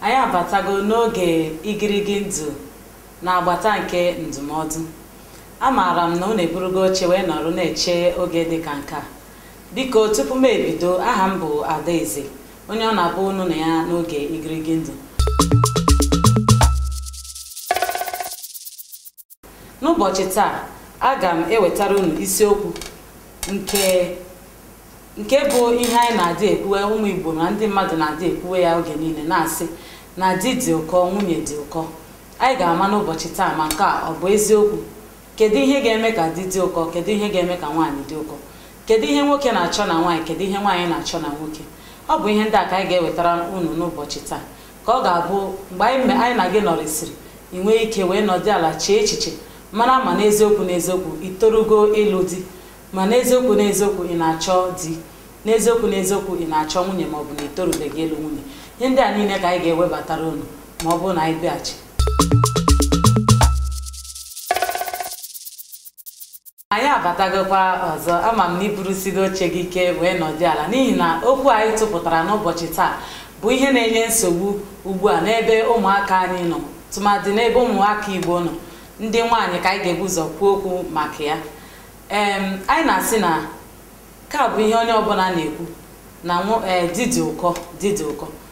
anyị abatago n'oge igirigi ndụ n'agbata nke ndụmọdụ amaara m na unu eburugo oche wee nọrọ na-eche oge dị ka nke a biko tupu m ebido aha m bụ adaeze onye ọ na-abụ unu na ya n'oge igirigi ndụ n'ụbọchị taa aga m ewetara unu isiokwu nke bụ ihe anyị na-adị ekwuwe ụmụ Igbo na ndị mmadụ na-adị ekwuwe ya oge niile na-asị na di dị ụkọ nwunye dị ụkọ anyị ga-ama n'ụbọchị taa ma nke a ọ bụ eziokwu kedu ihe ga-eme ka di dị ụkọ kedu ihe ga-eme ka nwaanyị dị ụkọ kedu ihe nwoke na-achọ na nwaanyị kedu ihe nwaanyị na-achọ na nwoke ọ bụ ihe ndị a ka anyị ga-ewetara unu n'ụbọchị taa ka ọ ga-abụ mgbe anyị na gị nọrịsịrị i nwee ike wee nọdị ala chee echiche mara ma n'eziokwu n'eziokwu itorugo ịlụ di ma n'eziokwu n'eziokwu ị na-achọ di n'eziokwu n'eziokwu ị na-achọ nwunye ma ọ bụ na itorubeghị ịlụ nwunye ihe ndị a niile ka anyị ga-ewebatara unu ma ọ bụrụ na anyị bịaghachi anyị abatagokwa ọzọ ama m na iburusigo oche gị ike wee nọdị ala n'ihi na okwu anyị tụpụtara n'ụbọchị taa bụ ihe na-enye nsogbu ugbu a n'ebe ụmụaka anyị nọ tụmadị n'ebe ụmụaka igbo nọ ndị nwaanyị ka anyị ga-ebu ụzọ kwuo okwu maka ya ee anyị na-asị na nke a bụ ihe onye ọbụla na-ekwu na di dị ụkọ di dị ụkọ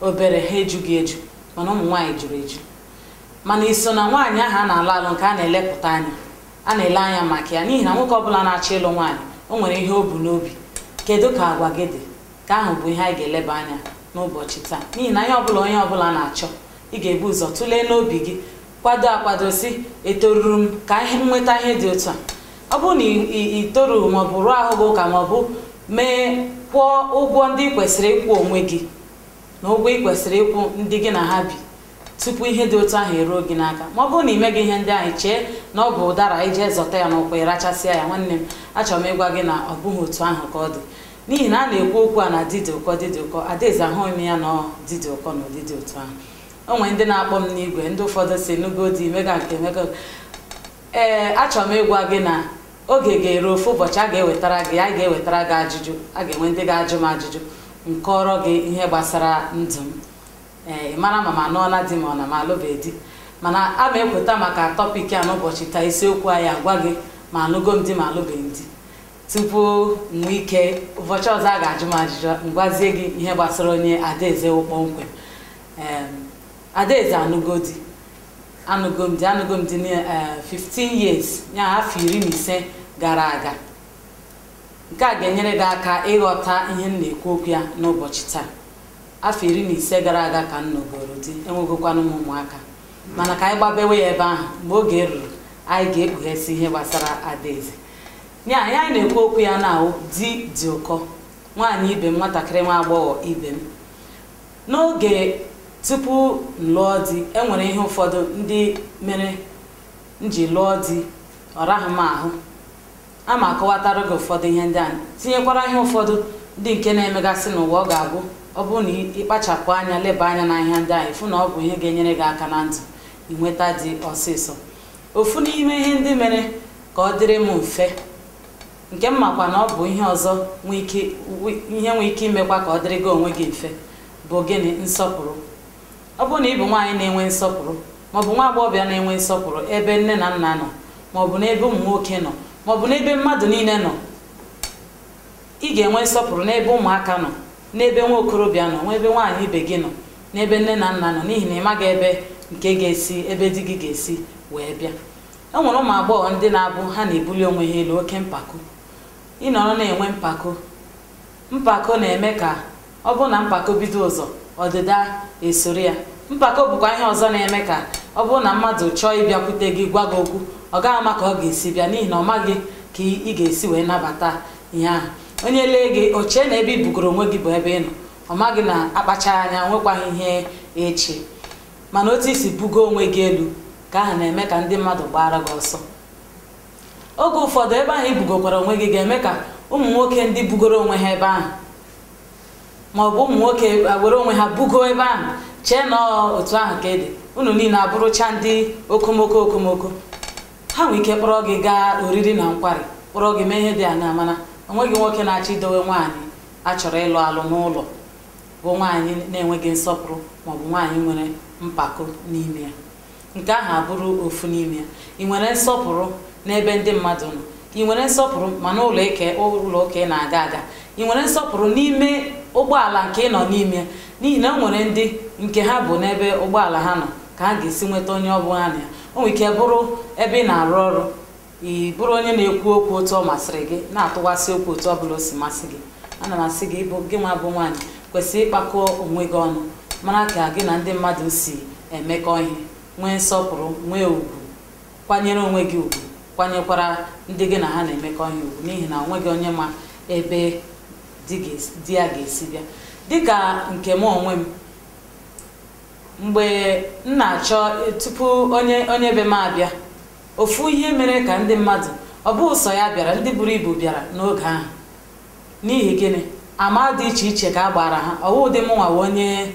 obere ha ejughị eju mana ụmụ nwaanyị juru eju mana iso na nwaanyị ahụ a na-alụ alụ nke a na-elepụta anya a na-ele anya maka ya n'ihi na nwoke ọbụla na-achọ ịlụ nwaanyị o nwere ihe o bu n'obi kedu ka agwa gị dị nke ahụ bụ ihe anyị ga-eleba anya n'ụbọchị taa n'ihi na ihe ọbụla onye ọbụla na-achọ ị ga-ebu ụzọ tụlee n'obi gị kwado akwado sị etoruru m ka ihe nweta ihe dị otu a ọ bụrụ na itoru maọbụ rụọ ahụ gị ụka maọbụ mee kwụọ ụgwọ ndị ị kwesịrị ịkwụ onwe gị na ụgwọ ị kwesịrị ịkwụ ndị gị na ha bi tupu ihe dị otu ahụ eruo gị n'aka ma ọ bụrụ na ị meghị ihe ndị ahụ chee na ọ bụ ụdara ije zọta ya n'ụkwụ ịrachasịa ya nwanne m achọrọ m ịgwa gị na ọ bụghị otu ahụ ka ọ dị n'ihi na a na-ekwu okwu a na di dị ụkọ di dị ụkọ adaeze ahụghị m ya na ọ di dị ụkọ na ụdị dị otu ahụ o nwere ndị na-akpọ m n'igwe ndị ụfọdụ sị nụgo di mega nke mega ee achọrọ m ịgwa gị na oge ga-eru ofu ụbọchị a ga-ewetara gị a ga-ewetara gị ajụjụ a ga-enwe ndị ga-ajụ m ajụjụ m kọrọ gị ihe gbasara ndụ m ee ị mara ma m anụọla di ma ọ na m alụbeghị di mana a ma ekweta maka topic a n'ụbọchị taa isiokwu anyị agwa gị ma alụgo m di ma alụbeghị di tupu m nwee ike ụbọchị ọzọ a ga-ajụ m ajụjụ m gwazie gị ihe gbasara onye adaeze wụ kpọmkwem adaeze anụgo di anụgo m di anụgo m di na eh, 15 years ya afọ iri na ise gara aga nke a ga-enyere gị aka ịghọta ihe m na-ekwu okwu ya n'ụbọchị taa afọ iri na ise gara aga ka m nọgoro di enwegokwanụ m ụmụaka mana ka anyị gbabewe ya ebe ahụ mgbe oge ruru anyị ga-ekpughesị ihe gbasara adaeze ya ihe anyị na-ekwu okwu ya na di dị ụkọ nwaanyị ibe m nwatakịrị nwa agbọghọ ibe m N'oge tupu m lụọ di, e nwere ihe ụfọdụ ndị mere m ji lụọ di, ọ raghị m ahụ. Aga m akọwatara gị ụfọdụ ihe ndị ahụ, tinyekwara ihe ụfọdụ ndị nke na-emegasị n'ụwa ọ ga-abụ ọ bụrụ na ị kpachapụ anya leba anya na ihe ndị ahụ ị fụ na ọ bụ ihe ga-enyere gị aka na ndụ inweta di ọsịsọ. Ofu n'ime ihe ndị mere ka ọ dịrị m mfe nke m makwa na ọ bụ ihe ọzọ nwe ike wi- ihe nwee ike imekwa ka ọ dịrị gị onwe gị mfe bụ gịnị nsọpụrụ ọ bụrụ na ị bụ nwaanyị na-enwe nsọpụrụ maọbụ nwa agbọghọbịa na-enwe nsọpụrụ ebe nne na nna nọ maọbụ n'ebe ụmụ nwoke nọ maọbụ n'ebe mmadụ niile nọ ị ga-enwe nsọpụrụ n'ebe ụmụaka nọ n'ebe nwa okorobịa nọ n'ebe nwaanyị ibe gị nọ n'ebe nne na nna nọ n'ihi na ị maghị ebe nke ga-esi ebe di gị ga-esi wee bịa e nwere ụmụ agbọghọ ndị na-abụ ha na-ebuli onwe ha elu oke mpako ị nọrọ na-enwe mpako mpako na-eme ka ọ bụrụ na mpako bido ụzọ ọdịda esoro ya mpako bụkwa ihe ọzọ na-eme ka ọ bụrụ na mmadụ chọọ ịbịakwute gị gwa gị okwu ọ gaghị ama ka ọ ga-esi bịa n'ihi na ọ maghị ka ị ga-esi wee nabata ihe ahụ onye lee gị o chee na ebe i bugoro onwe gị bụ ebe ị nọ ọ maghị na a kpachaa anya nwekwaghị ihe echi mana otu i si bugo onwe gị elu ka ahụ na-eme ka ndị mmadụ gbaara gị ọsọ oge ụfọdụ ebe ahụ i bugokwara onwe gị ga-eme ka ụmụ nwoke ndị bugoro onwe ha ebe ahụ ma ọ bụ ụmụ nwoke were onwe ha bugo ebe ahụ chee na otu ahụ ka ị dị unu niile abụrụcha ndị okomoko okomoko ha nwee ike kpọrọ gị gaa oriri na nkwari kpọrọ gị mee ihe dị aṅaa mana onweghị nwoke na-achọ idowe nwaanyị a chọrọ ịlụ alụ n'ụlọ bụ nwaanyị na-enweghị nsọpụrụ maọbụ nwaanyị nwere mpako n'ime ya nke ahụ abụrụ ofu n'ime ya ị nwere nsọpụrụ n'ebe ndị mmadụ nọ ị nwere nsọpụrụ ma n'ụlọ ụka ị na-aga aga ị nwere nsọpụrụ n'ime ụgbọala nke ị nọ n'ime ya n'ihi na o nwere ndị nke ha bụ n'ebe ụgbọala ha nọ ka ha ga-esi nweta onye ọ bụ ha na ya o nwere ike bụrụ ebe ị na-arụ ọrụ ị bụrụ onye na-ekwu okwu otu ọ masịrị gị na-atụwasị okwu otu ọ bụla o si masị gị ana m asị gị ịbụ gị nwa bụ nwaanyị kwesịrị ịkpakọ onwe gị ọnụ mara ka gị na ndị mmadụ si emekọ ihe nwee nsọpụrụ nwee ugwu kwanyere onwe gị ugwu kwanyekwara ndị gị na ha na-emekọ ihe ugwu n'ihi na o nweghị onye ma ebe di ga-esi- di ya ga-esi bịa dịka nke m onwe m mgbe m na-achọ tupu onye onye be m abịa Ofu ihe mere ka ndị mmadụ ọ bụghị sọ ya bịara ndị buru ibu bịara n'oge ahụ. N'ihi gịnị? Ama dị iche iche ka a gbaara ha ọ wụ ụdị mụnwa wụ onye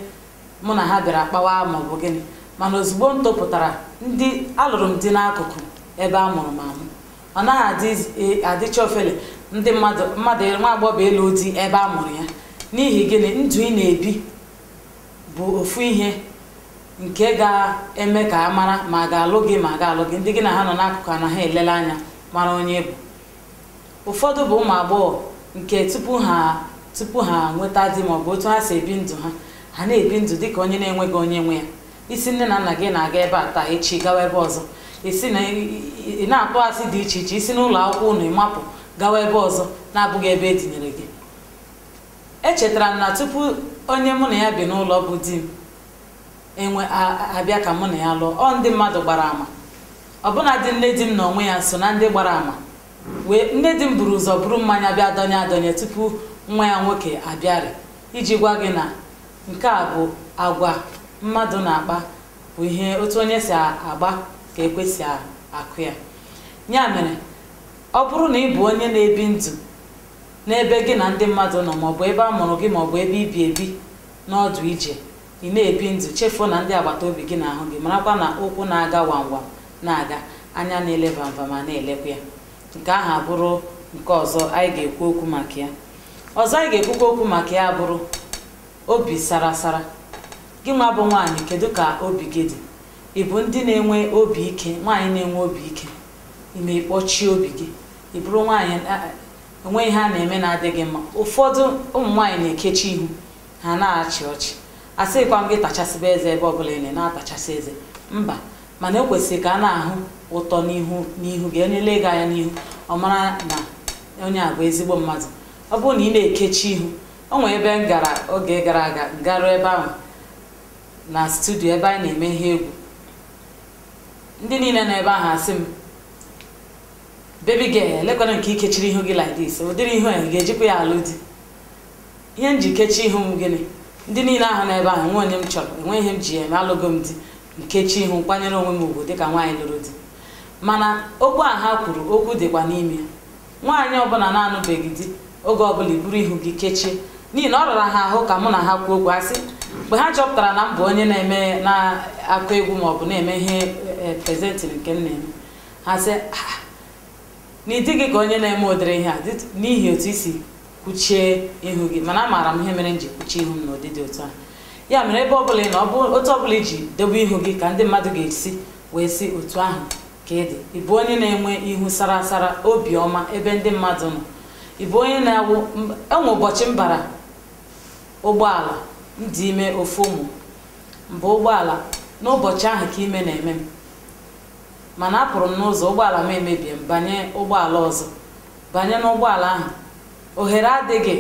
mụ na ha bịara kpawa ma ọ bụ gịnị mana ozugbo m topụtara ndị alụrụ m di n'akụkụ ebe a mụrụ m amụ ọ naghị adị e- adịcha ofele ndị mmadụ mmadụ nwa agbọghọ ịlụ di ebe a mụrụ ya n'ihi gịnị ndụ ị na-ebi bụ ofu ihe nke ga-eme ka a mara ma a ga-alụ gị ma a ga-alụ gị ndị gị na ha nọ n'akụkụ ana ha elele anya mara onye ị bụ ụfọdụ bụ ụmụ agbọghọ nke tupu ha tupu ha nweta di ma ọ bụ otu ha si ebi ndụ ha ha na-ebi ndụ dị ka onye na-enweghị onye nwe ya ị sị nne na nna gị na-aga ebe a taa echi gawa ebe ọzọ ị sị na ị na-atụ asị dị iche iche i si n'ụlọ akwụkwọ unu mapụ gawa ebe ọzọ na-abụghị ebe e tinyere gị echetara m na tupu onye mụ na ya bi n'ụlọ bụ di m ewee abịa ka mụ na ya lụọ ọ ndị mmadụ gbara ama ọbụnadị nne di m n'onwe ya so na ndị gbara ama ee nne di m buru ụzọ buru mmanya bịa dọnye adọnye tupu nwa ya nwoke abịarị iji gwa gị na nke a bụ agwa mmadụ na-akpa bụ ihe otu onye si agba ka ekwe si akụ ya ya mere ọ bụrụ na ị bụ onye na-ebi ndụ n'ebe gị na ndị mmadụ nọ maọbụ ebe a mụrụ gị maọbụ ebe i bi ebi n'ọdụ ije ị na-ebi ndụ chefuo na ndị agbata obi gị na-ahụ gị marakwa na ụkwụ na-aga wamwam na-aga anya na-ele vamvam na-elekwa ya nke ahụ abụrụ nke ọzọ anyị ga-ekwu okwu maka ya ọzọ anyị ga-ekwukwa okwu maka ya bụrụ obi sara sara gị nwa bụ nwaanyị kedu ka obi gị dị ị bụ ndị na-enwe obi ike nwaanyị na-enwe obi ike ị ma ị kpọchie obi gị ị bụrụ nwaanyị o nwee ihe a na-eme na-adịghị mma ụfọdụ ụmụ nwaanyị na-ekechi ihu ha anaghị achị ọchị asịkwa m gị tachasịba eze ebe ọbụla ị na-atachasị eze mba mana o kwesịrị ka a na-ahụ ụtọ n'ihu n'ihu gị onye lee gị anya n'ihu ọ mara na onye a bụ ezigbo mmadụ ọ bụrụ na ị na-ekechi ihu o nwere ebe m gara oge gara aga garuo ebe ahụ na studio ebe anyị na-eme ihe egwu ndị niile nọ ebe ahụ asị m baby girl lekwana nke ikechiri ihu gị like this ụdịrị ihu a ga-ejikwa ya alụ di ihe m ji kechie ihu m gịnị ndị niile ahụ n'ebe ahụ enwe onye m chọrọ enwe ihe m ji eme alụgo m di m kechie ihu kwanyere onwe m ugwu dịka nwaanyị lụrụ di mana okwu a ha kwuru okwu dịkwa n'ime nwaanyị ọbụla na-anụbeghị di oge ọbụla iburu ihu gị kechie n'ihi na ọ rara ha ahụ ka mụ na ha kwuo okwu a sị mgbe ha chọpụtara na m bụ onye na-eme na-akụ egwu maọbụ na-eme ihe e, e, presenting nke m na-eme ha sị "Ah, na ị dịghị ka onye na-eme ụdịrị ihe a dị- n'ihi otu i si kwuchie ihu gị mana amaara m ihe mere m ji kwuchie ihu m n'ụdị dị otu ahụ ya mere ebe ọbụla ị nọ ọ bụ otu ọbụla iji dobe ihu gị ka ndị mmadụ ga-esi wee sị otu ahụ ka ị dị ị bụ onye na-enwe ihu sara asara obiọma ebe ndị mmadụ nọ ị bụ onye na-awụ m- enwe ụbọchị m bara ụgbọala m dị ime ofu ụmụ m baa ụgbọala n'ụbọchị ahụ ka ime na-eme m mana apụrụ m n'ụzọ ụgbọala m emebie m banye ụgbọala ọzọ banye n'ụgbọala ahụ ohere adịghị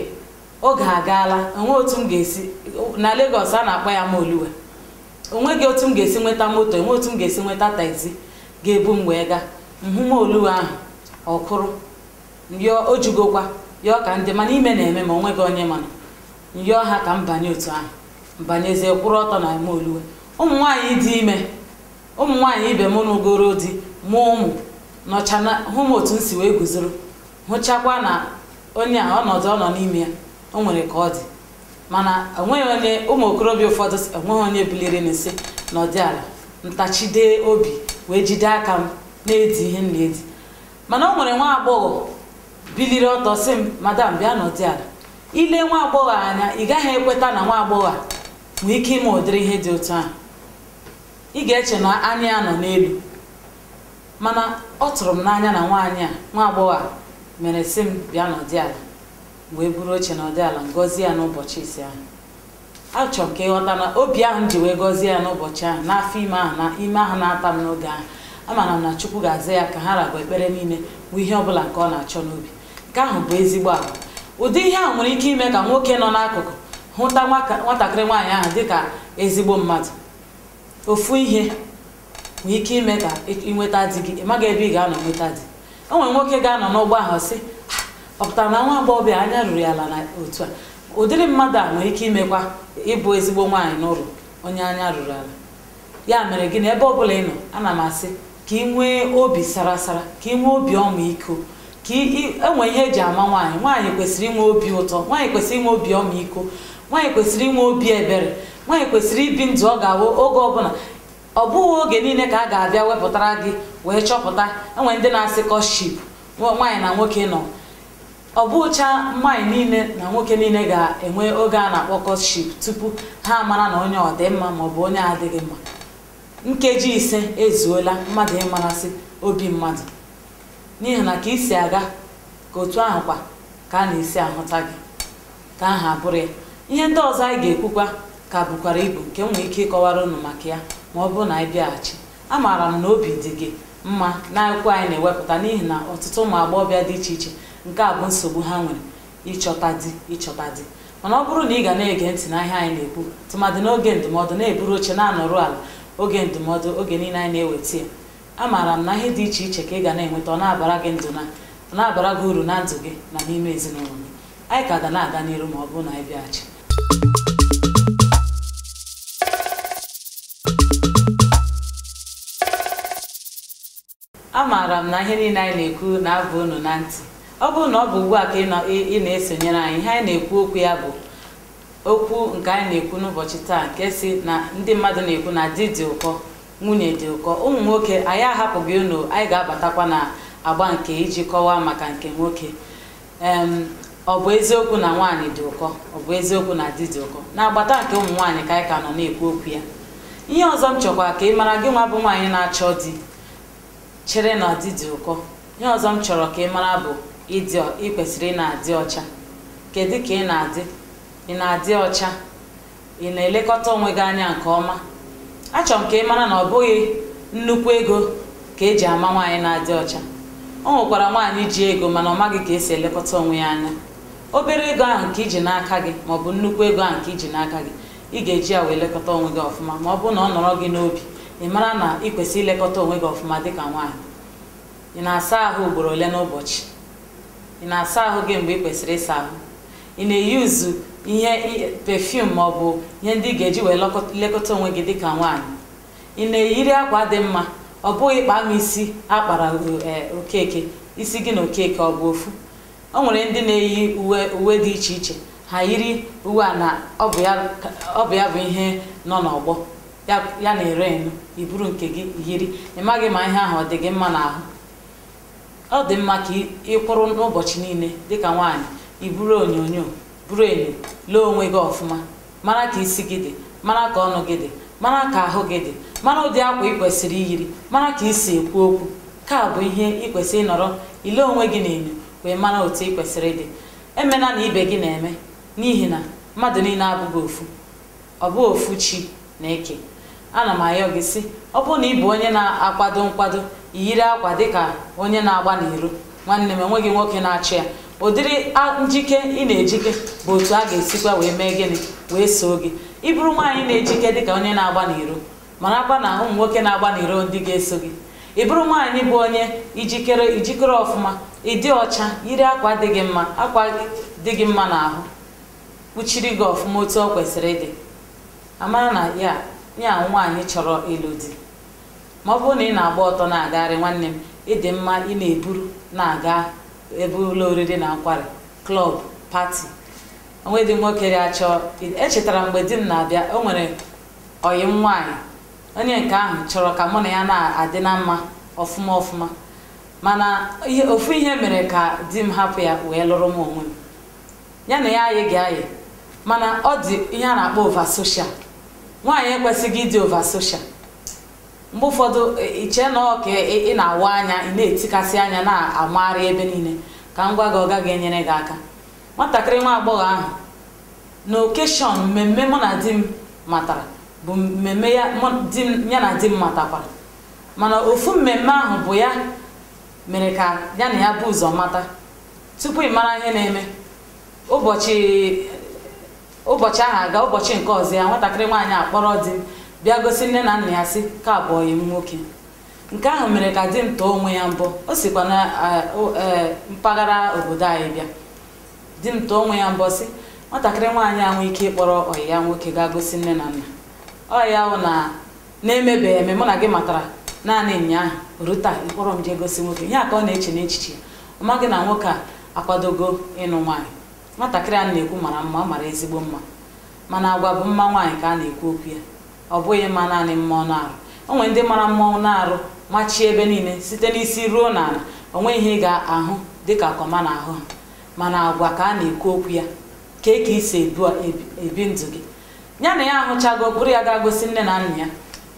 oge agaala enwe otu m ga-esi na Lagos a na-akpọ ya Molue onweghị otu m ga-esi nweta moto enwe otu m ga-esi nweta taxi ga-ebu m wee gaa m hụ Molue ahụ ọ kwụrụ yọọ o jugokwa yọọ ka ndị mana ime na-eme ma onweghị onye mana m yọọ ha ka m banye otu ahụ m banyezie kwụrụ ọtọ na Molue ụmụ nwaanyị dị ime ụmụ nwaanyị ibe m nụgoro di mụọ ụmụ nọcha na-ahụ m otu m si wee guzoro hụchakwa na onye a ọnọdụ ọ nọ n'ime ya o nwere ka ọ dị mana enweghị onye ụmụ okorobịa ụfọdụ si- enweghị onye biliri na-asị nọdị ala m tachide obi wee jide aka m na-edi ihe m na-edi mana o nwere nwa agbọghọ biliri ọtọ sị m madam bịa nọdị ala i lee nwa agbọghọ anya ị gaghị ekweta na nwa agbọghọ a nwee ike ime ụdịrị ihe dị otu ahụ ị ga-eche na anya ya nọ n'elu mana ọ tụrụ m n'anya na nwaanyị a nwa agbọghọ a mere sị m bịa nọdị ala wee buru oche nọdị ala m gọzie ya n'ụbọchị ise ahụ achọrọ m ka ịghọta na obi ahụ m ji wee gọzie ya n'ụbọchị ahụ n'afọ ime ahụ na ime ahụ na-ata m n'oge ahụ amara m na chukwu ga-aza ya ka ha ra bụ ekpere niile bụ ihe ọbụla nke ọ na-achọ n'obi nke ahụ bụ ezigbo agwa ụdị ihe ahụ nwere ike ime ka nwoke nọ n'akụkụ hụta nwatakịrị nwaanyị ahụ dịka ezigbo mmadụ ofu ihe nwee ike ime ka ịnweta di gị ị maghị ebe ị ga-anọ nweta di o nwere nwoke ga-anọ n'ụgbọ ahụ sị ọ pụtara na nwa agbọghọbịa anya ruru ya ala na otu a ụdịrị mmadụ a nwere ike imekwa ịbụ ezigbo nwaanyị n'ụlọ onye anya ruru ala ya mere gị na ebe ọ bụla ị nọ ana m asị ka ị nwee obi sara asara ka ị nwee obi ọmịiko ka enwe ihe eji ama nwaanyị nwaanyị kwesịrị inwe obi ụtọ nwaanyị kwesịrị inwe obi ọmịiko nwaanyị kwesịrị inwe obi ebere nwaanyị kwesịrị ibi ndụ ọ ga-awụ oge ọbụla ọ bụghị oge niile ka a ga-abịa wepụtara gị wee chọpụta enwe ndị na-asị courtship nwaanyị na nwoke nọ ọ bụcha nwaanyị niile na nwoke niile ga-enwe oge a na-akpọ courtship tupu ha mara na onye ọ dị mma maọbụ onye adịghị mma nkeji ise ezuola mmadụ ịmarasị obi mmadụ n'ihi na ka i si aga ka otu ahụ kwa ka a na-esi ahụta gị ka aha bụrụ ya ihe ndị ọzọ anyị ga-ekwukwa ka bukwara ibu nke m nwere ike ịkọwara unu maka ya ma ọ bụrụ na anyị bịaghachi amaara m na obi dị gị mma n'okwu anyị na-ewepụta n'ihi na ọtụtụ ụmụ agbọghọbịa dị iche iche nke a bụ nsogbu ha nwere ịchọta di ịchọta di mana ọ bụrụ na ị ga na-ege ntị na ihe anyị na-ekwu tụmadị n'oge ndụmọdụ na-eburu oche na-anọrụ ala oge ndụmọdụ oge niile anyị na-eweta ya amaara m na ihe dị iche iche ka ị ga na-enweta ọ na-abara gị ndụ na ọ na-abara gị uru na ndụ gị na n'ime ezinụlọ gị anyị ka ga na-aga n'iru ma ọ bụrụ na anyị bịaghachi amaara m na ihe niile anyị na-ekwu na-aba unu na ntị ọ bụrụ na ọ bụ ugbu a ka ị nọ- ị ị na-esonyere anyị ihe anyị na-ekwu okwu ya bụ okwu nke anyị na-ekwu n'ụbọchị taa nke sị na ndị mmadụ na-ekwu na di dị ụkọ Nwunye dị ụkọ, ụmụ nwoke anyị ahapụghị unu, anyị ga-abatakwa na agba nke iji kọwaa maka nke nwoke. Em, ọ bụ eziokwu na nwaanyị dị ụkọ, ọ bụ eziokwu na di dị ụkọ. N'agbata nke ụmụ nwaanyị ka anyị ka nọ na-ekwu okwu ya. Ihe ọzọ m chọkwa ka ị mara gị nwa bụ nwaanyị na-achọ di chere na di dị ụkọ. Ihe ọzọ m chọrọ ka ị mara bụ ịdị ọ- ị kwesịrị ị na-adị ọcha. Kedu ka ị na-adị? Ị na-adị ọcha? ị na-elekọta onwe gị anya nke ọma achọrọ m ka ị mara na ọ bụghị nnukwu ego ka eji ama nwaanyị na-adị ọcha o nwekwara nwaanyị ji ego mana ọ maghị ka esi elekọta onwe ya anya obere ego ahụ nke i ji n'aka gị maọbụ nnukwu ego ahụ nke i ji n'aka gị ị ga-eji ya wee lekọta onwe gị ọfụma ma ọ bụrụ na ọ nọrọ gị n'obi ị mara na ị kwesịrị ilekọta onwe gị ọfụma dịka nwaanyị ị na-asa ahụ ugboro ole n'ụbọchị ị na-asa ahụ gị mgbe ị kwesịrị ịsa ahụ ị na-use ihe i- perfume ma ọ bụ ihe ndị ị ga-eji wee lekọt- lekọta onwe gị dịka nwaanyị ị na-eyiri akwa dị mma ọ bụghị kpaa m isi a kpara o- eh, okeke isi gị na okeke ọ bụ ofu o nwere ndị na-eyi uwe uwe dị iche iche ha yiri uwe a na ọ bụ ya ka- ọ bụ ya bụ ihe nọ n'ọgbọ ya ya na-reign i buru nke gị yiri ị maghị ma ihe ahụ ọ dị gị mma n'ahụ ọ dị mma ka ị- ị kwụrụ n'ụbọchị niile dịka nwaanyị i buru onyonyo buru enyo lee onwe gị ọfụma mara ka isi gị dị mara ka ọnụ gị dị mara ka ahụ gị dị mara ụdị akwa ị kwesịrị iyiri mara ka i si ekwu okwu nke a bụ ihe ị kwesịrị ịnọrọ ile onwe gị n'enyo wee mara otu ị kwesịrị ịdị emena na ibe gị na-eme n'ihi na mmadụ niile abụghị ofu ọ bụ ofu chi na-eke ana m ayọ gị sị ọ bụrụ na ị bụ onye na-akwado nkwado yiri akwa dịka onye na-agba n'iro nwanne m enweghị nwoke na-achọ ya ụdịrị njike ị na-ejike bụ otu a ga-esikwa wee mee gịnị wee soo gị ị bụrụ nwaanyị na-ejike dịka onye na-agba n'iro marakwa na ụmụ nwoke na-agba n'iro ndị ga-eso gị ị bụrụ nwaanyị bụ onye i jikere ọfụma ị dị ọcha yiri akwa dị gị mma akwa dị gị mma n'ahụ kpuchiri gị ọfụma otu ọ kwesịrị ịdị a mara na ya ya nwaanyị chọrọ ịlụ di ma ọ bụrụ na ị na-agba ọtọ na-agagharị nwanne m ị dị mma ị na-eburu na-aga ebe ụlọ oriri na nkwari klọb pati o nwedị nwoke ya-achọ echetara m mgbe di m na-abịa o nwere ọyị m nwaanyị onye nke ahụ chọrọ ka mụ na ya na-adị na mma ọfụma ọfụma mana ofu ihe mere ka di m hapụ ya wee lụrụ m onwe m ya na ya ayịghị ayị mana ọ dị ihe a na-akpọ ova soshal nwaanyị ekwesịghị ịdị ova soshal mgbe ụfọdụ i chee na ọ ka ị na-awa anya ị na-etikasị anya na-amagharị ebe niile ka m gwa gị ọ gaghị enyere gị aka nwatakịrị nwa agbọghọ ahụ na okeshọn mmemme mụ na di m matara bụ mmemme ya na di m matakwara mana ofu mmemme ahụ bụ ya mere ka ya na ya bu ụzọ mata tupu ị mara ihe na-eme ụbọchị ụbọchị ahụ aga ụbọchị nke ọzọ ya nwatakịrị nwaanyị akpọrọ di m bịa gosi nne na nna ya sị nke a bụ ọyị m nwoke nke ahụ mere ka di m tụọ onwe ya mbọ o sikwa na mpaghara obodo anyị bịa di m tụọ onwe ya mbọ sị nwatakịrị nwaanyị a nwee ike ịkpọrọ ọyị ya nwoke gaa gosi nne na nna ọ ya bụ na na-emebeghị eme mụ na gị matara naanị ụnyaahụ ruo taa ị kpọrọ m jee gosi nwoke ihe a ka ọ na-eche n'echiche ya ọ maghị na nwoke a akwadogo ịnụ nwaanyị nwatakịrị a na-ekwu mara mma ọ mara ezigbo mma mana agwa bụ mma nwaanyị ka a na-ekwu okwu ya ọ bụghị mma naanị mma anụ arụ o nwere ndị mara mma anụ arụ machie ebe niile site n'isi ruo n'ala o nweghị ihe ị ga-ahụ dịka kọma n'ahụ ha mana agwa ka a na-ekwu okwu ya kee ka i si ebu- ebi ndụ gị ya na ya ahụchago kpọrọ ya gaa gosi nne na nna ya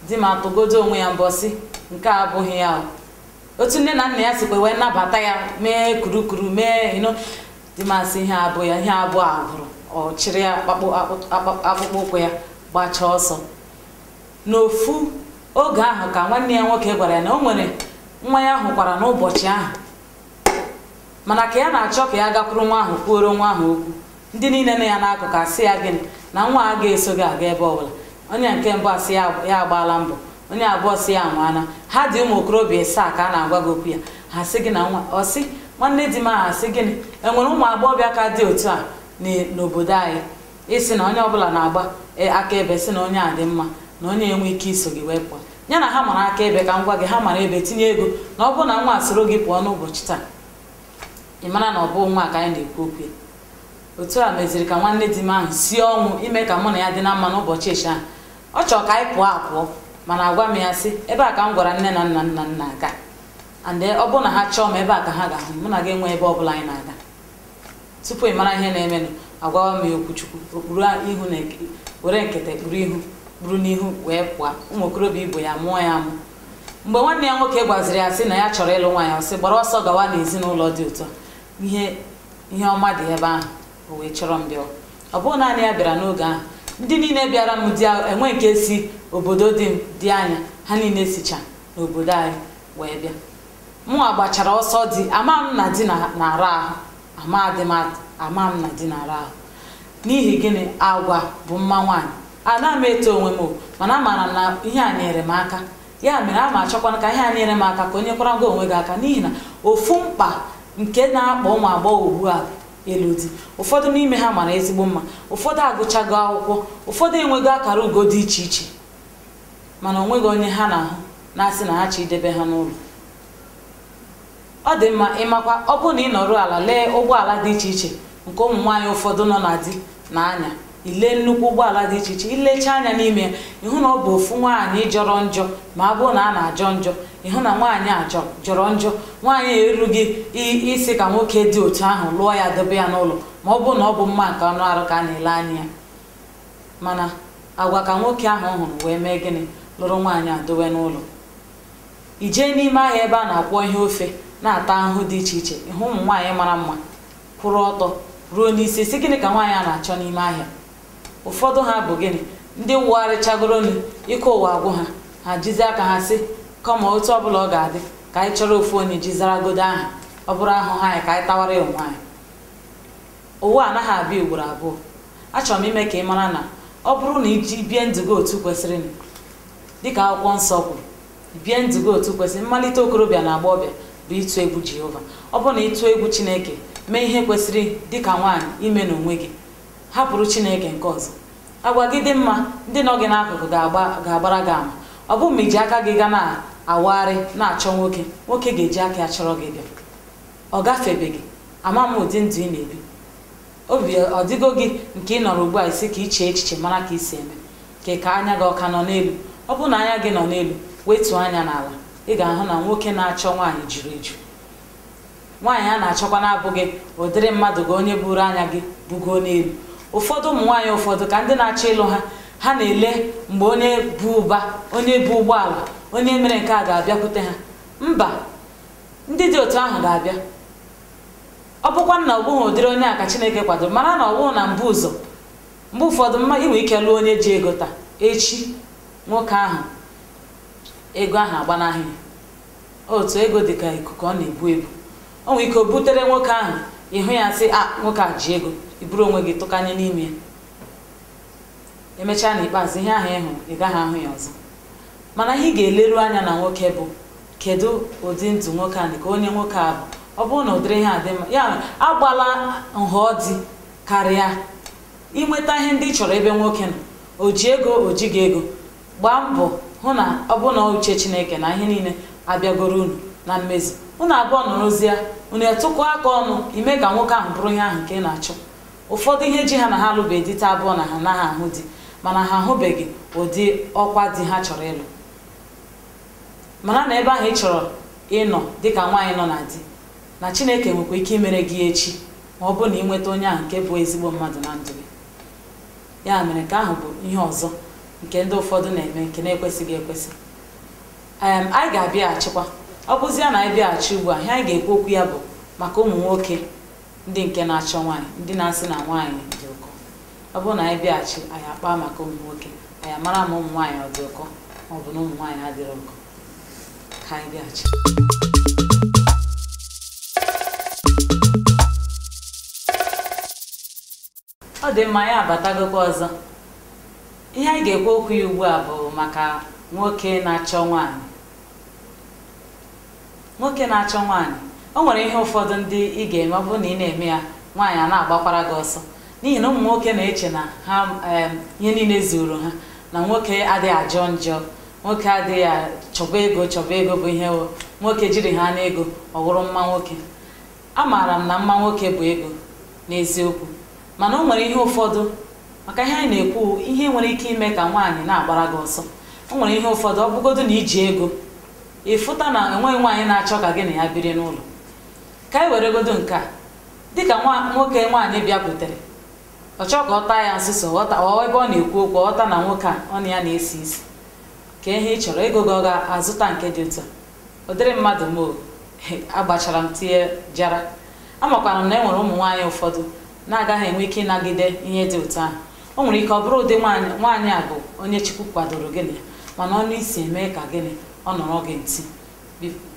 di m atụgodo onwe ya mbọ sị nke a abụghị ya o. otu nne na nna ya sikwa wee nabata ya mee kurukuru mee ino di m asị ihe abụ ya ihe abụ a gwụrụ ọ chịrị ya akpakpọ akpụ- akpụ- akpụkpọ ụkwụ ya gbachaa ọsọ n'ofu oge ahụ ka nwanne ya nwoke gwara ya na o nwere nwa ya hụkwara n'ụbọchị ahụ mana ka ya na-achọ ka ya gakwuru nwa ahụ kwuoro nwa ahụ okwu ndị niile nọ ya n'akụkụ asị ya gịnị na nwa a ga-eso gị aga ebe ọbụla onye nke mbụ asị ya ya agbaala mbọ onye abụọ sị ya anwaana ha dị ụmụ okorobịa ịsaa ka a na-agwa gị okwu ya ha sị gị na nwa ọ sị nwanne di m ahụ asị gịnị e nwere ụmụ agbọghọbịa ka dị otu a n- n'obodo anyị ị sị na onye ọbụla na-agba e, akaebe sị na onye a dị mma na onye enwe ike iso gị wee pụọ ya na ha mara akaebe ka m gwa gị ha mara ebe tinye ego na ọ bụrụ na nwa a soro gị pụọ n'ụbọchị taa ị mara na ọ bụ nwa ka anyị na-ekwu okwu ya otu a meziri ka nwanne di m ahụ sie ọnwụ ime ka mụ na ya dị na mma n'ụbọchị echi ahụ ọ chọrọ ka anyị pụọ apụọ mana agwa m ya sị ebe a ka m gwara nne na nna m na m na-aga and ọ bụrụ na ha chọọ m ebe a ka ha ga-ahụ mụ na gị enwe ebe ọ bụla anyị na-aga tupu ị mara ihe na-emenụ agwawa m ya okwu chukwu o kpuru ihu na were nkịta kpuru ihu kpuru n'ihu wee pụọ ụmụ okorobịa ibe ya mụọ ya amụ mgbe nwanne ya nwoke gwaziri ya sị na ya chọrọ ịlụ nwaanyị ọ sị gbara ọsọ gawa n'ezinụlọ dị ụtọ ihe ihe ọma dị ebe ahụ o wee chọrọ m bịa ọ bụghị naanị ya bịara n'oge ahụ ndị niile bịara m di enwe nke si obodo dị dị anya ha niile sicha n'obodo anyị wee bịa mụnwa gbachara ọsọ di ama m na di na-ara ahụ amadị m atụ ama m na di na-ara ahụ n'ihi gịnị agwa bụ mma nwaanyị ana m eto onwe m o, mana amaara m na ihe a nyere m aka ya mere ana m achọkwanụ ka ihe a nyere m aka ka o nyekwara gị onwe gị aka n'ihi na ofu mkpa nke na-akpa ụmụ agbọghọ ugbu a bụ ịlụ di ụfọdụ n'ime ha mara ezigbo mma ụfọdụ agụchago akwụkwọ ụfọdụ enwego akara ugo dị iche iche mana onweghị onye ha na-ahụ na-asị na ha chọ idebe ha n'ụlọ ọ dị mma ị makwa ọ bụrụ na ị nọrọ ala lee ụgbọala dị iche iche nke ụmụ nwaanyị ụfọdụ nọ na di na-anya i lee nnukwu ụgbọala dị iche iche i lecha anya n'ime ya ị hụ na ọ bụ ofu nwaanyị jọrọ njọ ma ọ bụrụ na a na-ajọ njọ ị hụ na nwaanyị a jọ- jọrọ njọ nwaanyị erughị i- ịsị ka nwoke dị otu ahụ lụọ ya dobe ya n'ụlọ ma ọ bụrụ na ọ bụ mma nke anụ arụ ka a na-ele anya ya mana agwa ka nwoke ahụ hụrụ wee mee gịnị lụrụ nwaanyị a dowe n'ụlọ i jee n'ime ahịa ebe a na-akwọ ihe ofe na-ata ahụhụ dị iche iche ị hụ ụmụ nwaanyị mara mma kwụrụ ọtọ ruo n'isi sị gịnị ka nwaanyị a na-achọ n'ime ahịa ụfọdụ ha bụ gịnị ndị wagharịchagoro nụ ike ụwa agwụ ha ha jizi aka ha sị kama otu ọbụla ọ ga-adị ka anyị chọrọ ofu onye ji zaragodo aha ọ bụrụ ahụhụ anyị ka anyị tawara ya onwe anyị ụwa anaghị abịa ugboro abụọ achọrọ m ime ka ị mara na ọ bụrụ na i ji bie ndụ gị otu kwesịrị dịka akwụkwọ nsọ kwuru bie ndụ gị otu kwesịrị mmalite okorobịa na agbọghọbịa bụ ịtụ egwu jehova ọ bụrụ na ị tụọ egwu chineke mee ihe kwesịrị dịka nwaanyị ime n'onwe gị hapụrụ chineke nke ọzọ agwa gị dị mma ndị nọ gị n'akụkụ ga-agba- ga-agbara gị ama ọ bụrọ ma i ji aka gị ga na-awagharị na-achọ nwoke nwoke ga-eji aka ya chọrọ gị bịa ọ gafebeghị ama m ụdị ndụ ị na-ebi obi ọ dịgo gị nke ị nọrọ ugbu a ị sị ka i chee echiche mara ka i si eme ka ka anya gị ọ ka nọ n'elu ọ bụrụ na anya gị nọ n'elu wetuo anya n'ala ị ga-ahụ na nwoke na-achọ nwaanyị juru eju nwaanyị a na-achọkwa na-abụghị ụdịrị mmadụ gị onye buru anya gị bugo n'elu ụfọdụ ụmụ nwaanyị ụfọdụ ka ndị na-achọ ịlụ ha ha na-ele mgbe onye bu ụba onye bu ụgbọala onye mere nke a ga-abịakwute ha mba ndị dị otu ahụ ga-abịa ọ bụkwa na ọ bụghị ụdịrị onye a ka chineke kwadoro mara na ọ bụghị na mbụ ụzọ mgbe ụfọdụ mm i nwe ike lụọ onye ji ego taa echi nwoke ahụ ego ahụ agbanahụ ya otu ego dị ka ikuku ọ na-ebu ebu o nwere ike o butere nwoke ahụ ị hụ ya sị a nwoke a ji ego i buru onwe gị tụkanye n'ime ya emechaa n'ikpeazụ ihe ahụ ị hụrụ ị gaghị ahụ ya ọzọ mana ihe ị ga-eleru anya na nwoke bụ kedu ụdị ndụ nwoke a dị ka onye nwoke a bụ ọ bụrụ na ụdịrị ihe a dị mma ya mere agbala nhọ di karịa inweta ihe ndị ị chọrọ ebe nwoke nọ o ji ego o jighị ego gbaa mbọ hụ na ọ bụ na uche chineke na ihe niile abịagoro unu na mmezu unu abụọ nọrọzie unu atụkọ aka ọnụ ime ka nwoke ahụ bụrụ ihe ahụ nke ị na-achọ ụfọdụ ihe ji ha na ha alụbeghị di taa abụrọ na ha anaghị ahụ di mana ha ahụbeghị ụdị ọkwa di ha chọrọ ịlụ mara na ebe ahụ ị chọrọ ịnọ dịka nwaanyị nọ na di na chineke nwekwa ike imere gị echi ma ọ bụrụ na ị nweta onye ahụ nke bụ ezigbo mmadụ na ndụ gị ya mere nke ahụ bụ ihe ọzọ nke ndị ụfọdụ na-eme nke na-ekwesịghị ekwesị em anyị ga-abịaghachikwa ọ bụzia na anyị bịaghachi ugbu a ihe anyị ga-ekwu okwu ya bụ maka ụmụ nwoke ndị nke na-achọ nwaanyị ndị na-asị na nwaanyị dị ụkọ ọ bụrụ na anyị bịaghachi anyị akpaa maka ụmụ nwoke anyị amara ma ụmụ nwaanyị ọ dị ụkọ ma ọ bụ na ụmụ nwaanyị adịrọ ụkọ ka anyị bịaghachi ọ dị mma ya abatagokwa ọzọ ihe anyị ga-ekwu okwu ya ugbu a bụ maka nwoke na-achọ nwaanyị nwoke na-achọ nwaanyị o nwere ihe ụfọdụ ndị ị ga-eme ọ bụrụ na ị na-eme ya nwaanyị a na-agbakwara gị ọsọ n'ihi na ụmụ nwoke na-eche na ha em, ihe niile zuru ha na nwoke adịghị ajọ njọ nwoke adịghị a- chọba ego chọba ego bụ ihe wụ nwoke jiri ha n'ego ọ wụrụ mma nwoke Amaara m na mma nwoke bụ ego n'eziokwu mana o nwere ihe ụfọdụ maka ihe anyị na-ekwu ihe nwere ike ime ka nwaanyị na-agbara gị ọsọ o nwere ihe ụfọdụ ọ bụgodu na i ji ego ị fụta na enweghị nwaanyị na-achọ ka gị na ya biri n'ụlọ ka anyị weregodo nke a dịka nwoke nwaanyị bịakwutere ọ chọọ ka ọ taa ya nsuso ebe ọ na-ekwu okwu ọ ghọta na nwoke a ọnụ ya na-esi isi kee ihe ị chọrọ ego gị ọ ga-azụta nke dị otu a ụdịrị mmadụ m wụ agbachara m tinye jara amakwara m na e nwere ụmụ nwaanyị ụfọdụ na-agaghị enwe ike ịnagide ihe dị otu ahụ o nwere ike ọ bụrụ ụdị nwaanyị a bụ onye chukwu kwadoro gị na ya mana ọnụ isi eme ka gịnị ọ nọrọ gị ntị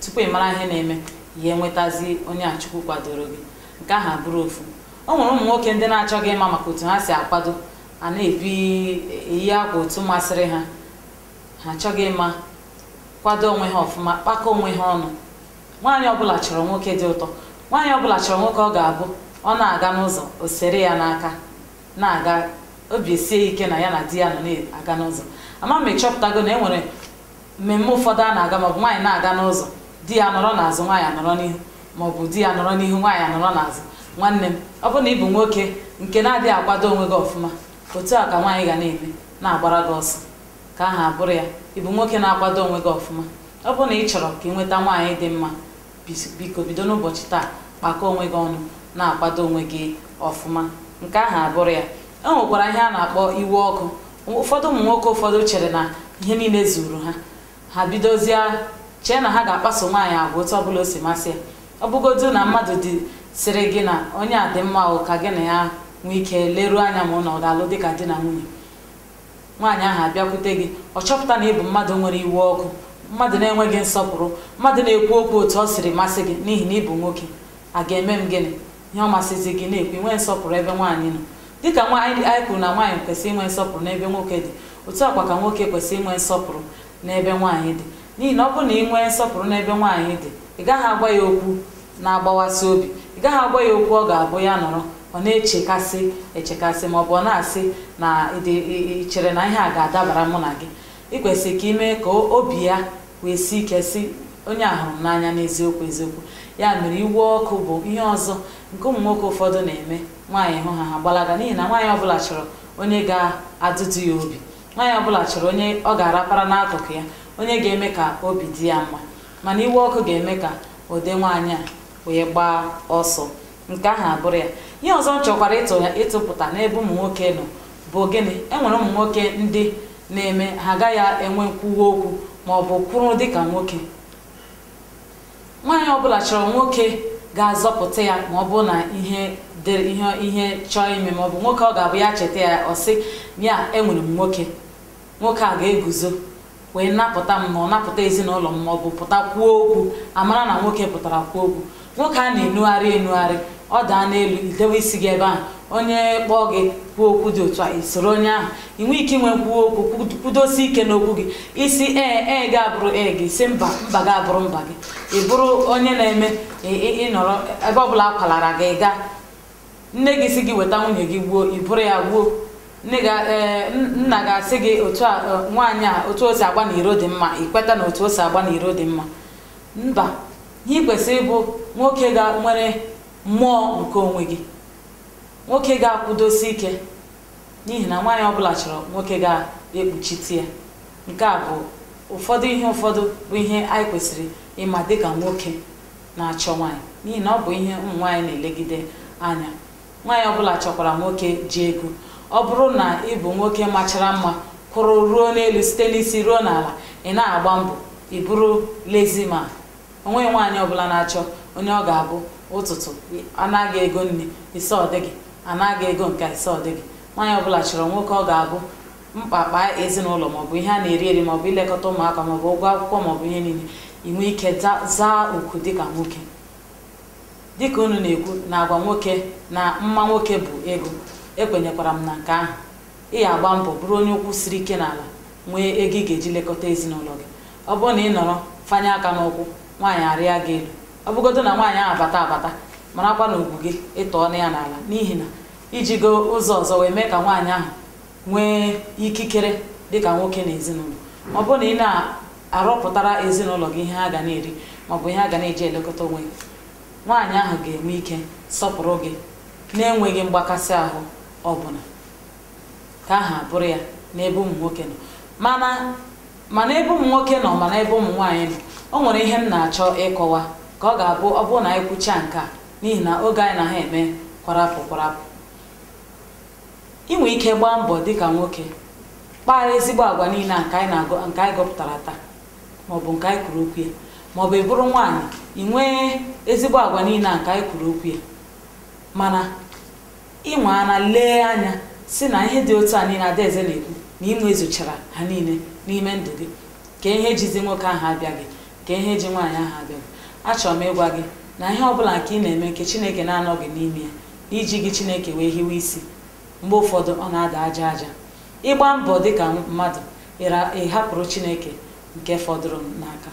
tupu ị mara ihe na-eme ya enwetazi onye a chukwu kwadoro gị nke ahụ abụrụ ofu o nwere ụmụ nwoke ndị na-achọghị ịma maka otu ha si akwado a na-ebi eyi akwa otu masịrị ha ha achọghị ịma kwado onwe ha ọfụma kpakọ onwe ha ọnụ nwaanyị ọbụla chọrọ nwoke dị ụtọ nwaanyị ọbụla chọrọ nwoke ọ ga-abụ ọ na-aga n'ụzọ o sere ya n'aka na-aga obi esie ike na ya na di ya nọ na-aga n'ụzọ ama m ị chọpụtago na e nwere mmemme ụfọdụ a na-aga maọbụ nwaanyị na-aga n'ụzọ di ya nọrọ n'azụ nwaanyị anọrọ n'ihu maọbụ di ya nọrọ n'ihu nwaanyị anọrọ n'azụ nwanne m ọ bụ na ị bụ nwoke nke na-adịghị akwado onwe gị ọfụma otu a ka nwaanyị ga na-eme na-agbara gị ọsọ nke ahụ abụrụ ya ị bụ nwoke na-akwado onwe gị ọfụma ọ bụ na ị chọrọ ka ị nweta nwaanyị dị mma biko bido n'ụbọchị taa kpakọ onwe gị ọnụ na-akwado onwe gị ọfụma nke ahụ abụrụ ya e nwekwara ihe a na-akpọ iwe ọkụ ụfọdụ ụmụ nwoke ụfọdụ chere na ihe niile zuru ha ha bidozie chee na ha ga-akpaso nwaanyị agwa otu ọbụla o si masị ya ọ bụgodu na mmadụ dị sịrị gị na onye a dị mma o ka gị na ya nwee ike leruo anya ma ụnụ ọ ga-alụ dị ka di na nwunye nwaanyị ahụ abịakwute gị ọ chọpụta na ị bụ mmadụ nwere iwe ọkụ mmadụ na-enweghị nsọpụrụ mmadụ na-ekwu okwu otu o siri masị gị n'ihi na ị bụ nwoke a ga-eme m gịnị ihe ọ masịzi gị ị na-ekwu inwe nsọpụrụ ebe nwaanyị nọ dịka anyị kwuru na nwaanyị kwesịrị inwe nsọpụrụ n'ebe nwoke dị otu a kwa ka nwoke kwesịrị inwe nsọpụrụ n'ebe nwaanyị dị n'ihi na ọ bụrụ na ị nwee nsọpụrụ n'ebe nwaanyị dị ị gaghị agwa ya okwu na-agbawasị obi ị gaghị agwa ya okwu ọ ga-abụ ya nọrọ ọ na-echekasị echekasị ma ọ bụ ọ na-asị na m chere na ihe a ga-adabara mụ na gị ị kwesịrị ka ị mee ka obi ya wee sie ike sị onye a hụrụ m n'anya n'eziokwu eziokwu ya mere iwe ọkụ bụ ihe ọzọ nke ụmụ nwoke ụfọdụ na-eme nwaanyị hụ ha ha gbalaga n'ihi na nwaanyị ọbụla chọrọ onye ga-agụgụ ya obi nwaanyị ọbụla chọrọ onye ọ ga-arapara n'akụkụ ya onye ga-eme ka obi dị ya mma mana iwe ọkụ ga-eme ka ụdị nwaanyị a wee gbaa ọsọ nke ahụ abụrụ ya ihe ọzọ m chọkwara ịtụ ya ịtụpụta n'ebe ụmụ nwoke nọ bụ gịnị enwere ụmụ nwoke ndị na-eme ha agaghị enwe nkwuwa okwu ma ọ bụ kwụrụ dịka nwoke nwaanyị ọbụla chọrọ nwoke ga-azọpụta ya ma ọ bụrụ na ihe dịrị ihe ihe chọọ ime ma ọ bụ nwoke ọ ga-abụ ya cheta ya ọ sị ya enwere m nwoke nwoke a ga-eguzo wee napụta m ma ọ napụta ezinụlọ m ma ọ bụ pụta kwuo okwu a mara na nwoke pụtara kwuo okwu nwoke a na-enugharị enugharị ọ daa n'elu i dewe isi gị ebe ahụ onye kpọọ gị kwuo okwu dị otu a i soro onye ahụ ị nwee ike inwe kwuo okwu kwudosi ike n'okwu gị ị sị ee ee gị abụrụ ee gị ị sị mba mba gị abụrụ mba gị ị bụrụ onye na-eme ị nọrọ ebe ọ bụla a kwalara gị gaa nne gị sị gị weta nwunye gị gbuo i buru ya gbuo nne gị a- ee, n- nna gị asị gị otu a e, nwaanyị a otu o si agba n'iro dị mma i kweta na otu o si agba n'iro dị mma mba ihe ị kwesịrị ịbụ nwoke ga nwere mmụọ nke onwe gị nwoke ga-akwụdosi ike n'ihi na nwaanyị ọbụla chọrọ nwoke ga-ekpuchite ya nke a bụ ụfọdụ ihe ụfọdụ bụ ihe anyị kwesịrị ịma dịka nwoke na-achọ nwaanyị n'ihi na ọ bụ ihe ụmụ nwaanyị na-elegide anya nwaanyị ọbụla chọkwara nwoke ji ego ọ bụrụ na ị bụ nwoke machara mma kwụrụ ruo n'elu site n'isi ruo n'ala ị na-agba mbọ ị bụrụ lazy man onweghị nwaanyị ọbụla na-achọ onye ọ ga-abụ ụtụtụ a naa gị ego nni ị sị ọ dịgị a naa gị ego nke ị sị ọ dịgị nwaanyị ọbụla chọrọ nwoke ọ ga-abụ mkpa kpaa ezinụlọ maọbụ ihe a na-eri eri maọbụ ilekọta ụmụaka maọbụ ụgwọ akwụkwọ maọbụ ihe niile i nwee ike za- zaa oku dịka nwoke dịka unu na-ekwu na agwa nwoke na mma nwoke bụ ego ekwenyekwara m na nke ahụ ị ya-agba mbọ bụrụ onye ụkwụ siri ike n'ala nwee ego ị ga-eji lekọta ezinụlọ gị ọ bụrụ na ị nọrọ fanye aka n'ụkwụ nwaanyị arịa gị elu ọ bụgodu na nwaanyị ahụ abata abata marakwa na ugwu gị ị tọọna ya n'ala n'ihi na i jigo ụzọ ọzọ wee mee ka nwaanyị ahụ nwee ikikere dịka nwoke n'ezinụlọ ọ bụrụ na ị na-arọpụtara ezinụlọ gị ihe ha ga na-eri maọbụ ihe ha ga na-eji elekọta onwe gị nwaanyị ahụ ga-enwe ike sọpụrụ gị na-enweghị mgbakasị ahụ ọbụla nke ahụ abụrụ ya n'ebe ụmụ nwoke nọ mana mana ebe ụmụ nwoke nọ mana ebe ụmụ nwaanyị nọ o nwere ihe m na-achọ ịkọwa ka ọ ga-abụ ọ bụrụ na anyị kwuchaa nke a n'ihi na oge anyị na ha eme kwarapụ kwarapụ ị nwere ike gbaa mbọ dịka nwoke kpaa ezigbo agwa niile a nke anyị na-agụ nke anyị gụpụtara taa maọbụ nke anyị kwuru okwu ya maọbụ ị bụrụ nwaanyị ị nwee ezigbo agwa niile a nke anyị kwuru okwu ya mana ịnwe ana lee anya sị na ihe dị otu a niile adaeze na-ekwu na ị nwezuchara ha niile n'ime ndụ gị kee ihe jizi nwoke ahụ abịaghị kee ihe ji nwaanyị ahụ abịaghị achọrọ m ịgwa gị na ihe ọbụla nke ị na-eme nke chineke na-anọghị n'ime ya i jighị chineke wee hiwe isi mgbe ụfọdụ ọ na-ada aja aja ị gbaa mbọ dị ka mmadụ ịra- ị hapụrụ chineke nke fọdụrụ n'aka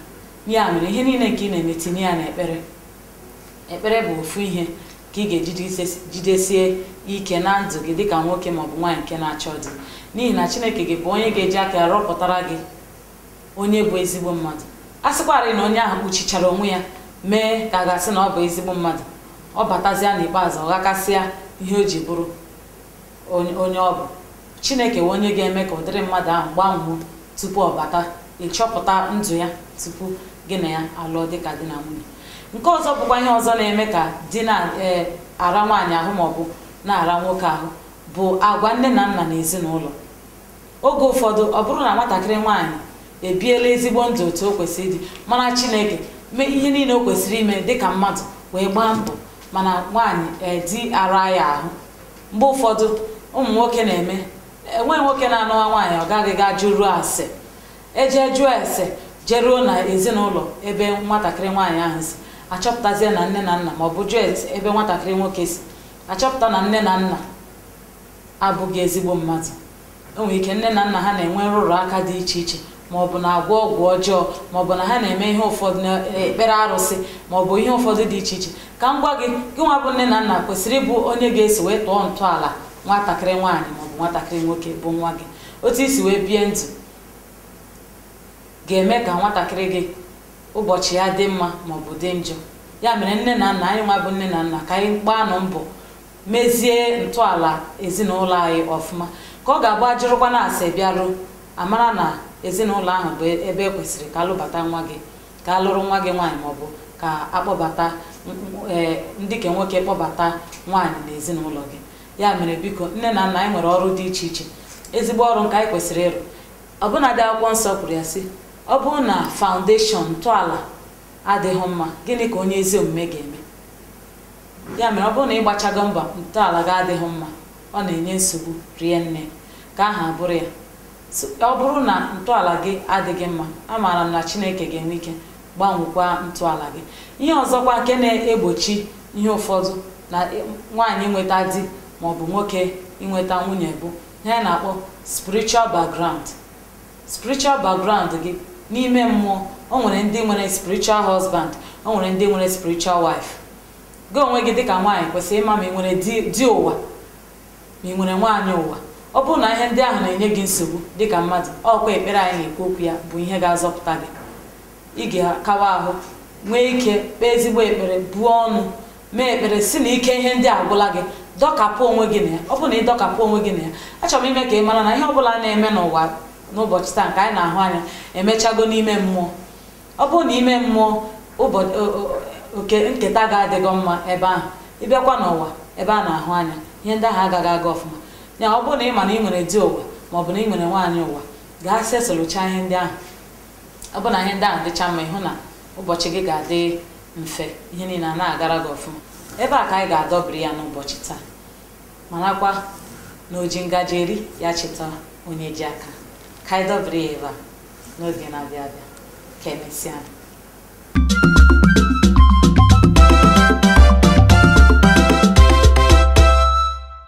ya mere ihe niile nke ị na-eme tinye ya n'ekpere ekpere bụ ofu ihe ka ị ga-eji jidesi- jidesie ike na ndụ gị dịka nwoke maọbụ nwaanyị nke na-achọ di n'ihi na chineke ga-abụ onye ga-eji aka ya rọpụtara gị onye bụ ezigbo mmadụ a sịkwarị na onye ahụ kpuchichara onwe ya mee ka a ga-asị na ọ bụ ezigbo mmadụ ọ batazịa n'ikpeazụ ọ ghakasịa ihe o ji bụrụ onye ọ bụ chineke bụ onye ga-eme ka ụdịrị mmadụ ahụ gbanwuo tupu ọ bata ị chọpụta ndụ ya tupu gị na ya alụọ dịka di na nwunye nke ọzọ bụkwa ihe ọzọ na-eme ka di na-ara nwaanyị ahụ maọbụ na-ara nwoke ahụ bụ agwa nne na nna na ezinụlọ oge ụfọdụ ọ bụrụ na nwatakịrị nwaanyị ebiela ezigbo ndụ otu o kwesịrị ịdị mara chineke mee ihe niile o kwesịrị ime dịka mmadụ wee gbaa mbọ mana nwaanyị a di ara ya ahụ mgbe ụfọdụ ụmụ nwoke na-eme enweghị nwoke na-anụwa nwaanyị ọ gaghị ga jụruo ase ejee jụọ ese jeruo na ezinụlọ ebe nwatakịrị nwaanyị ahụ si achọpụtazie na nne na nna ma ọ bụ jụọ ebe nwatakịrị nwoke si achọpụta na nne na nna abụghị ezigbo mmadụ o nwere ike nne na nna ha na-enwe nrụrụ aka dị iche iche ma ọ bụ na-agwọ ọgwụ ọjọọ ma ọ bụ na ha na-eme ihe ụfọdụ na-ekpere arụsị ma ọ bụ ihe ụfọdụ dị iche iche ka m gwa gị gị nwa bụ nne na nna kwesịrị ịbụ onye ga-esi wee tọọ ntọala nwatakịrị nwaanyị ma ọ bụ nwatakịrị nwoke bụ nwa gị otu i si wee bie ndụ ga-eme ka nwatakịrị gị ụbọchị ya dị mma ma ọ bụ dị njọ ya mere nne na nna anyị nwa bụ nne na nna ka anyị gbaanụ mbọ mezie ntọala ezinụlọ anyị ọfụma ka ọ ga-abụ a jụrụkwanụ ase bịaruo a mara na ezinụlọ ahụ bụ ebe e kwesịrị ka alụbata nwa gị ka alụrụ nwa gị nwaanyị maọbụ ka akpọbata ee ndị ka nwoke kpọbata nwaanyị na ezinụlọ gị ya mere biko nne na nna anyị nwere ọrụ dị iche iche ezigbo ọrụ nke anyị kwesịrị ịrụ ọbụnadị akwụkwọ nsọ kwuru ya sị ọ bụrụ na foundation ntọala adịghị mma gịnị ka onye ezi omume ga-eme ya mere ọ bụrụ na ị gbachago mbọ ntọala gị adịghị mma ọ na-enye nsogbu rie nne ka aha bụrụ ya ọ bụrụ na ntọala gị adịghị mma amaara m na chineke ga-enwe ike gbanwekwa ntọala gị ihe ọzọkwa nke na-egbochi ihe ụfọdụ na nwaanyị inweta di maọbụ nwoke inweta nwunye bụ ihe a na-akpọ spiritual background spiritual background gị n'ime mmụọ o nwere ndị nwere spiritual husband o nwere ndị nwere spiritual wife gị onwe gị dịka nwaanyị kwesịrị ịma ma ị nwere di ụwa ma ị nwere nwaanyị ụwa ọ bụrụ na ihe ndị ahụ na-enye gị nsogbu dịka mmadụ ọkwa ekpere anyị na-ekwu okwu ya bụ ihe ga-azọpụta gị ị ga-akawa ahụ nwee ike kpee ezigbo ekpere buo ọnụ mee ekpere sị na ike ihe ndị a agwụla gị dọkapụ onwe gị na ya ọ bụrụ na ị dọkapụ onwe gị na ya achọrọ m ime ka ị mara na ihe ọ bụla na-eme n'ụwa n'ụbọchị taa nke anyị na-ahụ anya emechago n'ime mmụọ ọ bụrụ na ime mmụọ oke nketa gị adịghị mma ebe ahụ ị bịakwa n'ụwa ebe a na-ahụ anya ihe ndị ahụ agaghị aga ọfụma ya ọ bụrụ na ị ma na ị nwere di ụwa maọbụ na ị nwere nwaanyị ụwa gaa setụlụchaa ihe ndị ahụ ọ bụ na ihe ndị ahụ dịcha mma ị hụ na ụbọchị gị ga-adị mfe ihe niile ana-agara gị ọfụma ebe a ka anyị ga-adọbiri ya n'ụbọchị taa marakwa na oji ngaji eri ya cheta onye ji aka ka anyị dọbiri ya ebe a n'oge na-abịa abịa ka emesịa